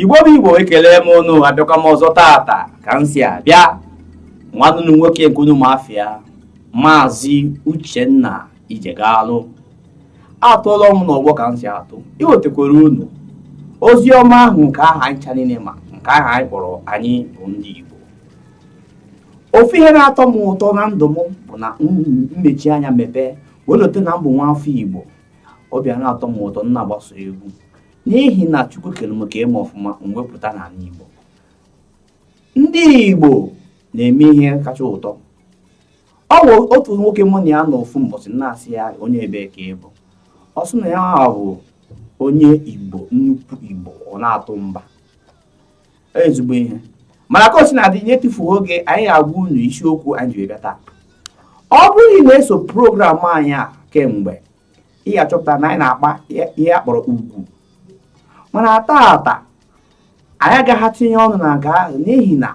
igbo bụ igbo ekele m unu abịakwa m ọzọ tata ka m si abịa nwanne unu nwoke nke unu ma afa ya maazị uchenna ijegalụ atụọla m n'ọgbọ ka m si atụ iwetekwara unu ozi ọma ahụ nke aha anyị ncha niile ma nke aha anyị kpọrọ anyị bụ ndị igbo ofu ihe na-atọ m ụtọ na ndụ m bụ na m mechie anya mepee wee lote na m bụ nwa afọ igbo obi ana-atọ m ụtọ m na-agba sọ egwu n'ihi na chukwu kere m ka eme ọfụma m wee pụta n'ala igbo ndị igbo na-eme ihe kacha ụtọ ọ bụ otu nwoke mụ na ya nọ ofu mbọsị m na-asị ya onye ebee ka ị bụ ọ sị na ya bụ onye igbo nnukwu igbo ọ na-atụ mba ezigbo ihe mana ka o sina dị n'etufughị oge anyị agwa unu isiokwu anyị ji bịa taa ọ bụrụ na ị na-eso program anyị a kemgbe ị ga-achọpụta na anyị na-akpa ihe a kpọrọ ugwu mana taata anyị agaghị etinye ọnụ na nke ahụ n'ihi na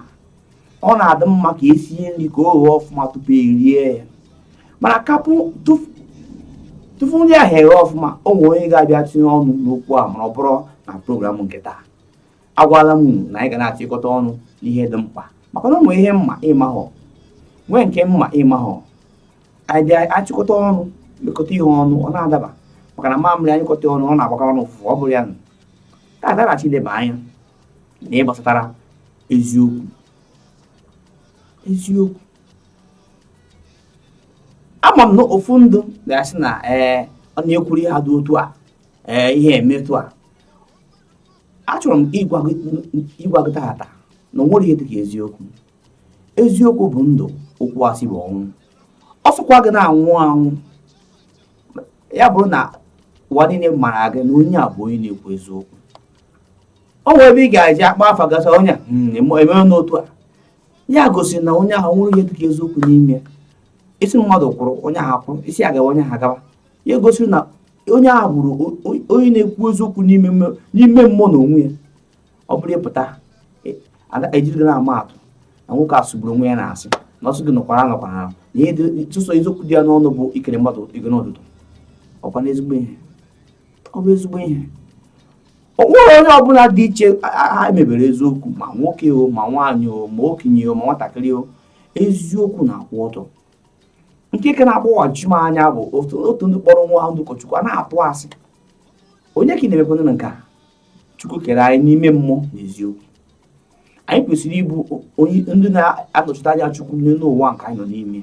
ọ na-adị mma ka e sie nri ka o ghee ọfụma tupu e rie ya mana kapụ tupu nri ahụ eghe ọfụma o nwere onye ga-abịa tinye ọnụ n'okwu a ma ọ bụrụ na program nke taa agwala m na anyị ga na-achịkọta ọnụ n'ihe dị mkpa maka na o nwere ihe m ma ị mahọ nwee nke m ma ị mahọ anyị bịa achịkọta ọnụ lekọta ihe ọnụ ọ na-adaba maka na mamịrị a nyụkọta ọnụ ọ na-agbakọ ọnụ ụfụfụ ọ bụrụ ya na ka adaghachi ileba anya na ihe gbasatara eziokwu eziokwu ama m na ụfọdụ ga-asị na ee ọ na-ekwuru ihe dị otu a ee ihe eme otu a achọrọ m ịgwa gị tata na o nwere ihe dịka eziokwu eziokwu bụ ndụ okwu asị bụ ọnwụ ọ sọkwa gị na-anwụ anwụ ya bụrụ na ụwa niile mara gị na onye a bụ onye na-ekwu eziokwu o nwere ebe a ga-eji akpa afa gị a sị onye hmm, emewe n'otu a ya gosiri na onye ahụ nwere ihe dịka eziokwu n'ime ị sị mmadụ kwụrụ onye ahụ kwụrụ ị sị ya gawa onye ahụ agawa ya gosiri na onye ahụ hụrụ onye na-ekwu eziokwu n'ime mmụọ na onwe ya ọ bụrụ ị pụta e jiri gị na-ama atụ na nwoke a sụgburu onwe ya n'asị na ọ sị gị nọkwara nọkwara na sọsọ eziokwu dị ya n'ọnụ bụ ikene mmadụ ekene ụtụtụ ọkwa na ezigbo ihe ọ bụ ezigbo ihe o nwere onye ọbụla dị iche e mebere eziokwu ma nwoke o ma nwaanyị o ma okenye o ma nwatakịrị o eziokwu na-akwụ ọtọ nke ka na-agbagwoju m anya bụ otu ndị kpọrọ onwe ha ndị ụkọchukwu a na-atụ asị onye ka ị na-emekwana na nke a chukwu kere anyị n'ime mmụọ na eziokwu anyị kwesịrị ịbụ ndị na-anọchite anya chukwu n'elu ụwa nke anyị nọ n'ime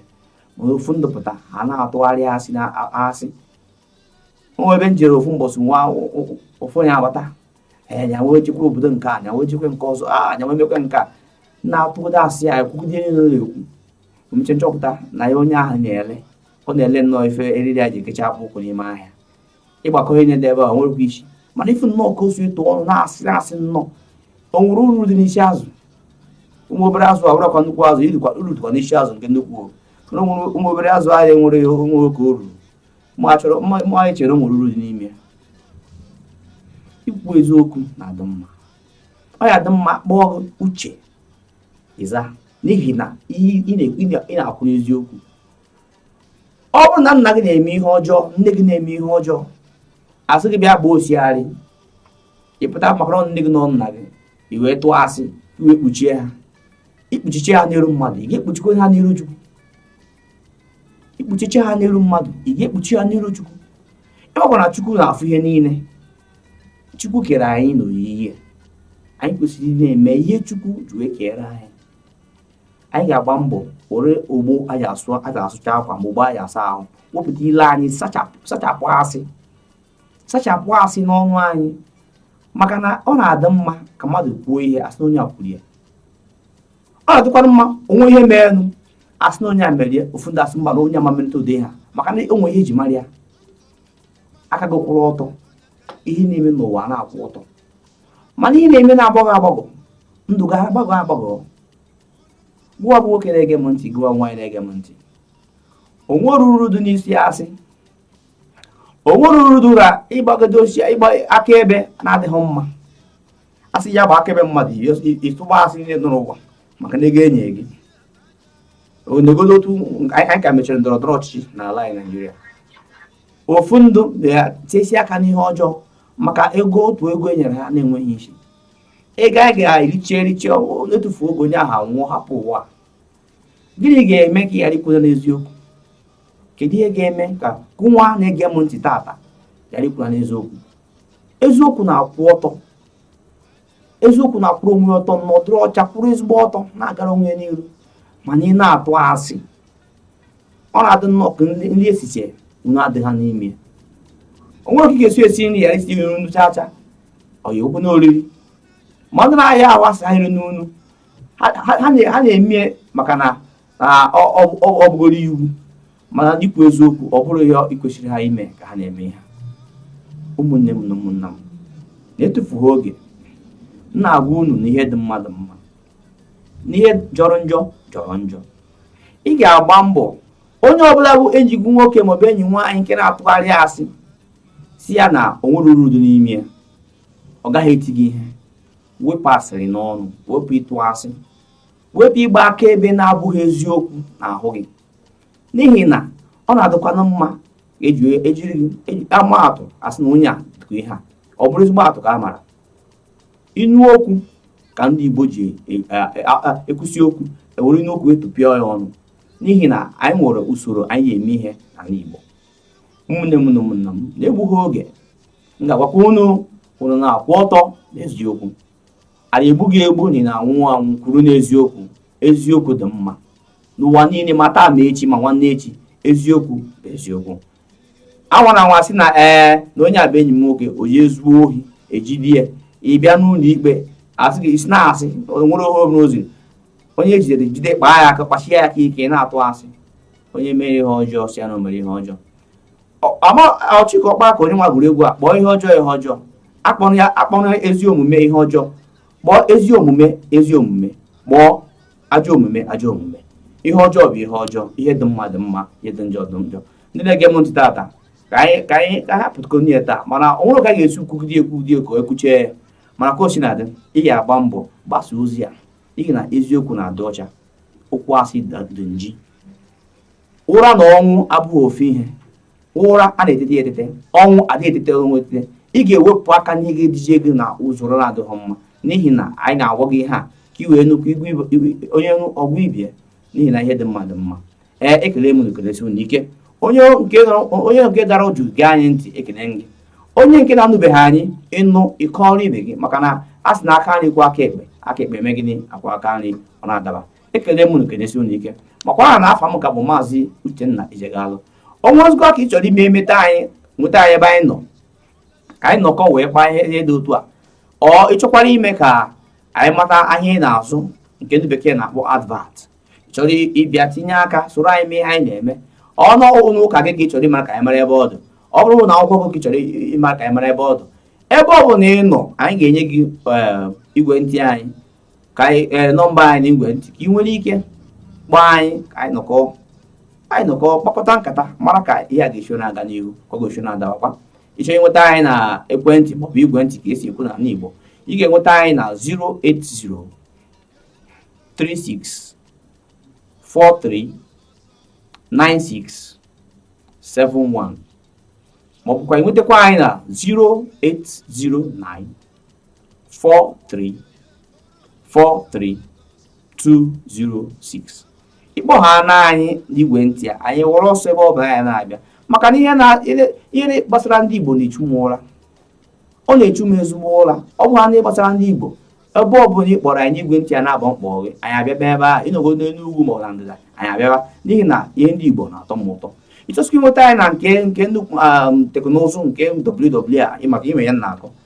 mana ụfọdụ pụta ha na-atụgharị asị na asị o nwe ebe m jere ofu mbọsị nwa ofu onye agbata ee na yawa ejekwa obodo nke a na yawa ejekwa nke ọzọ a ah, na yawa emekwa nke a na-atụgide asị ya ekwugide ihe ọ na-ekwu o mechee m chọpụta na ya onye ahụ na-ele ọ na-ele nnọọ ife eriri ya ji ekecha akpụ ụkwụ n'ime ahịa ị gbakọọ ihe ọ na-ele ebe a nwerekwa isi mana ị fụ nnọọ ka o si etu ọnụ na-asị na-asị nnọọ o nwere uru dị n'isi azụ ụmụ obere azụ a bụrụkwa nnukwu azụ uru dịkwa n'isi azụ nke nnukwu o nwere ụmụ obere azụ ahịa nwere onwe oke uru ma anyị chere o nwere uru dị n'ime ya ikwu eziokwu na-adị mma ọ ya dị mma kpọọ uche ịza n'ihi na ị na-akwụ n'eziokwu ọ bụrụ na nna gị na-eme ihe ọjọọ nne gị na-eme ihe ọjọọ a sị gị bịa gbaa osiarị ị pụta maka na ọ nne gị na ọ nna gị i wee tụọ asị i wee kpuchie ha i kpuchichee ha n'iru mmadụ ị ga-ekpuchikwa ha n'iru chukwu i kpuchichee ha n'iru mmadụ ị ga-ekpuchi ha n'iru chukwu ị makwa na chukwu na-afụ ihe niile chukwu kere anyị n'oyiyi ya anyị kwesịrị na-eme ihe chukwu ji wee kere anyị anyị ga-agba mbọ were ogbo e ji asụcha akwa ma ogbo e ji asa ahụ wepụta ile anyị sachapụ asị sachapụ asị n'ọnụ anyị maka na ọ na-adị mma ka mmadụ kwuo ihe a sị na onye a kwuru ya ọ na-adịkwara mma o nwee ihe meenụ a sị na onye a mere ya ụfọdụ asị mba na onye a ama emelite ụdị a maka na o nwe ihe e ji mara ya aka gị kwụrụ ọtọ ihe ị na-eme n'ụwa na-akwụ ọtọ mana ihe ị na-eme na-agbagọ agbagọ ndụ gị agbagọ agbagọ gụwa bụ nwoke na-ege m ntị gụwa nwaanyị na-ege m ntị o nwere uru dị n'isi asị o nwere uru dụ na ịgbagode osisi ịgba akaebe na-adịghị mma a sị ya gbaa akaebe mmadụ ị tụgbaa asị niile dị n'ụwa maka na ego e nye gị negodu otu anyị ka mechiri ndọrọ ndọrọ ọchịchị n'ala anyị naijiria ụfọdụ na-etesi aka n'ihe ọjọọ maka ego otu ego e nyere ha na-enweghị isi ego a ga-erichi erichi n'etufu oge onye ahụ anwụọ hapụ ụwa gịnị ga-eme ka ị ghara ịkwụrụ n'eziokwu kedu ihe ga-eme ka gụwa na-ege m ntị tata ghara ịkwụrụ n'eziokwu eziokwu na-akwụ ọtọ eziokwu na-akwụrụ onwe ọtọ nọdụrụ ọcha kwụrụ ezigbo ọtọ na-agara onwe n'iru mana ị na-atụ asị ọ na-adị nnọọ ka nri e sichee nnu adịghị ya n'ime o nwere ka ị ga-esi esi nri ghara itinye nnu chacha ọ ya ekwe na oriri mmadụ na-arịa ahụ a sị ya erina nnu ha na-eme maka na ọ bụgoro iwu mana ikwu eziokwu ọ bụrụ ihe kwesịrị ha ime ka ha na-eme ha ụmụnne m na ụmụnna m na-etufughị oge m na-agwa unu na ihe dị mmadụ mma na ihe jọrọ njọ jọrọ njọ ị ga-agba mbọ onye ọbụla bụ enyi gị nwoke maọbụ enyi nwaanyị nke na-atụgharị asị sị ya na o nwere uru dị n'ime ya ọ gaghị eti gị ihe wepụ asịrị n'ọnụ wepụ ịtụ asị wepụ ịgba akaebe na-abụghị eziokwu n'ahụ gị n'ihi na ọ na-adịkwana mma ejiri e e e ama atụ a sị na onye a dịka ihe a ọ bụrụ ezigbo atụ ka a mara inu okwu ka ndị Igbo ji ekwusi okwu e were inu okwu etupịa ya ọnụ n'ihi na anyị nwere usoro anyị ji eme ihe n'ala Igbo ụmụnne m na ụmụnna m na-egbughị oge m ga-agwakwa unu unu na-akwụ ọtọ n'eziokwu a na-egbu gị egbu na ị na-anwụ anwụ kwụrụ n'eziokwu eziokwu dị mma n'ụwa niile ma taa ma echi ma nwanne echi eziokwu bụ eziokwu anwana anwa sị na ee na onye a bụ enyi m nwoke onye zuo ohi e jide ya ị bịa n'ụlọ ikpe a sị gị isi na-asị nwere ohe obere ozi onye e jidere jide kpaa ya aka kpasie ya aka ike na-atụ asị onye mere ihe ọjọọ sị ya na o mere ihe ọjọọ ọ Chika Ọkpala ka onye nwa gụrụ egwu a kpọọ ihe ọjọọ ihe ọjọọ akpọna ezi omume ihe ọjọọ kpọọ ezi omume ezi omume kpọọ ajọ omume ajọ omume ihe ọjọọ bụ ihe ọjọọ ihe dị mma dị mma ihe dị njọ dị njọ ndị na-ege m ntị tata ka anyị ka anyị hapụtụkwanụ ihe taa mana o nwerọ ka a ga-esi kwugide ekwugide ka e kwuchaa ya mana ka o sina dị ị ga-agba mbọ gbasa ozi a n'ihi na eziokwu na-adị ọcha okwu asị dị nji ụra na ọnwụ abụghị ofu ihe ụra a na-etete etete ọnwụ adịghị etete ọnwụ etete ị ga-ewepụ aka n'ihe ga-eduje gị n'usoro na-adịghị mma n'ihi na anyị na-agwa gị ihe a ka ị wee nụkwa onye ọ gwa ibe ya n'ihi na ihe dị mma dị mma ee ekele m ekelesi unu ike onye nke dara jụụ gee anyị ntị ekele gị onye nke na-anụbeghị anyị ị nụ ị kọọrọ ibe gị maka na a sị na aka nri kwọọ aka ekpe aka ekpe eme gịnị akwọọ aka nri ọ na-adaba ekele m unu kelesie unu ike makwa na afa m ka bụ maazị Uchenna Ijegalụ ọnwa ozugbo ka ị chọrọ ime emeta anyị nweta anyị ebe anyị nọ ka anyị nọkọ wee kpaa ihe dị otu a ị chọkwara ime ka anyị mata ahịa ị na-azụ nke ndị bekee na-akpọ advert chọrọ ịbịa tinye aka soro anyị mee ihe anyị na-eme ọ bụrụ ụnọ ụka gị ka ị chọrọ ịmara ka anyị mara ebe ọ dị ọ bụrụ ụnọ akwụkwọ gị chọrọ ịmara ka anyị mara ebe ọ dị ebe ọ bụla ị nọ anyị ga-enye gị eh igwe ntị anyị ka anyị ee eh, nọmba anyị n'igwe ntị ka ị nwere ike kpọọ anyị ka anyị nọkọ anyị nọkọ kpakọta nkata mara ka ihe a ga-esi na-aga n'ihu ka ọ ga-esi na-adawakwa ị chọọ ịnweta anyị na ekwentị maọbụ igwe ntị ka e si ekwu na ala Igbo ị ga-enweta anyị na 080 36 43 96 71 maọbụkwa ị nwetakwa anyị na 0809 43 43 206 ị kpọhaana anyị n'igwe ntị a anyị ewere ọsọ ebe ọ bụla anyị na-abịa maka na ihe na ihe gbasara ndị Igbo na-echu m ụra ọ na-echu m ezigbo ụra ọ bụhaana ọ gbasara ndị Igbo ebe ọ bụla ị kpọrọ anyị n'igwe ntị a na-abọ mkpọ gị anyị abịaba ebe a ị nọgo n'elu ugwu ma ọ na ndịda anyị abịaba n'ihi na ihe ndị Igbo na-atọ m ụtọ ị chọzikwa ịnweta anyị na nke nke um, teknụzụ nke WWA ị ma ka ime ya na-akọ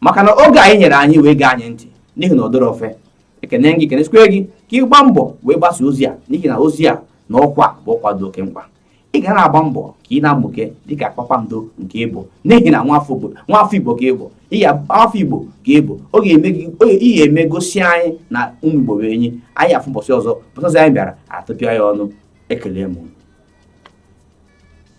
maka na oge a i nyere anyị wee gee anyị ntị n'ihi na ọ dịrọ ọfe ekene gị kenesikwe gị ka ị gbaa mbọ wee gbasa ozi a n'ihi na ozi a na ọkwa bụ ọkwa dị oke mkpa ị ga na-agba mbọ ka ị na-amụke dịka kpakpando nke ị bụ n'ihi na nwafọ igbo ka ị bụ afọ igbo ka ị bụ oge ị ya-eme gosi anyị na ụmụ igbo bụ enyi anyị afụ mbọsị ọzọ mbọsị ọzọ anyị bịara atụpịa ya ọnụ ekele m